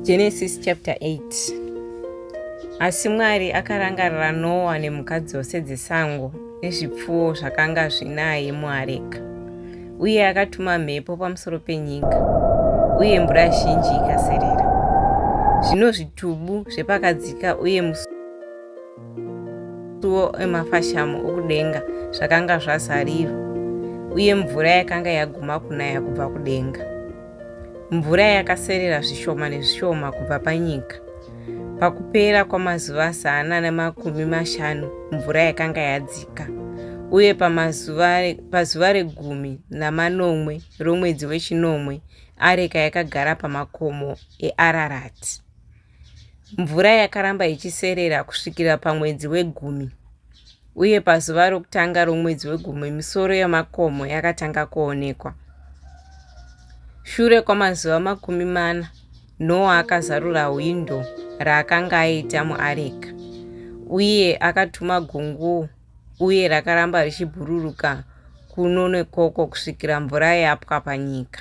Genesis chapter 8 Asi Mwari akarangarira Noa nemhuka dzose dzesango nezvipfuwo zvakanga zvinaye muareka, uye akatuma mhepo pamusoro penyika, uye mvura zhinji ikaserera. Zvino zvitubu zvepakadzika uye musu masuwo emafashamu okudenga zvakanga zvazarirwa uye mvura yakanga yaguma kunaya kubva kudenga mvura yakaserera zvishoma nezvishoma kubva panyika pakupera kwamazuva zana nemakumi mashanu mvura yakanga yadzika uye pazuva regumi namanomwe romwedzi wechinomwe areka yakagara pamakomo eararati Mvura yakaramba ichiserera kusvikira pamwedzi wegumi, uye pazuva rokutanga romwedzi wegumi misoro yamakomo yakatanga kuonekwa. Shure kwamazuva makumi mana, Noa akazarura hwindo raakanga aita muareka, uye akatuma gungu, uye rakaramba richibhururuka kuno nekoko kusvikira mvura yapwa panyika.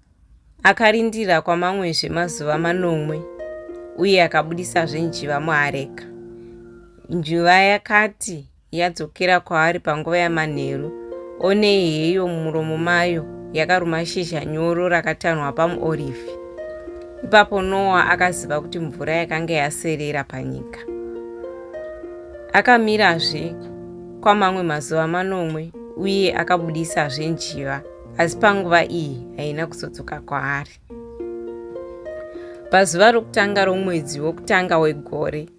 Akarindira kwamamwezve mazuva manomwe uye akabudisazve njiva muareka. Njiva yakati yadzokera kwaari panguva yamanheru, onei heyo mumuromo mayo yakaruma shizha nyoro rakatanhwa pamuorivhi. Ipapo Noa akaziva kuti mvura yakanga yaserera panyika. Akamirazve kwamamwe mazuva manomwe uye akabudisazve njiva. asi panguva iyi haina kuzodzoka kwaari pazuva rokutanga romwedzi wokutanga wegore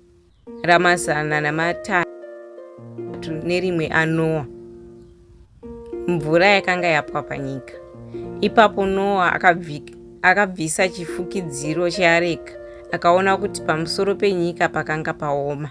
ramazana namatatu nerimwe anoa mvura yakanga yapwa panyika ipapo noa akabvisa chifukidziro cheareka akaona kuti pamusoro penyika pakanga paoma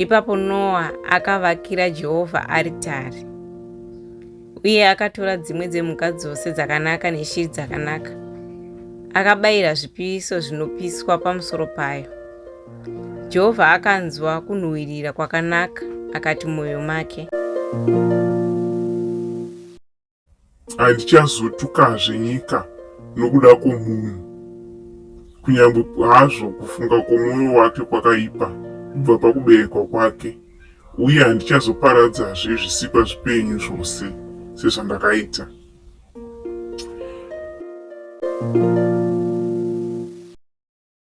Ipapo Noa akavakira Jehovha aritari, uye akatora dzimwe dzemhuka dzose dzakanaka neshiri dzakanaka, akabayira zvipiso zvinopiswa pamusoro payo. Jehovha akanzwa kunhuhwirira kwakanaka akati mumwoyo make, thank you Handichazotukazve nyika nokuda kwomunhu, kunyange hazvo kufunga kwomwoyo wake kwakaipa kubva pakuberekwa kwake, uye handichazoparadzazve zvisikwa zvipenyu zvose sezvandakaita.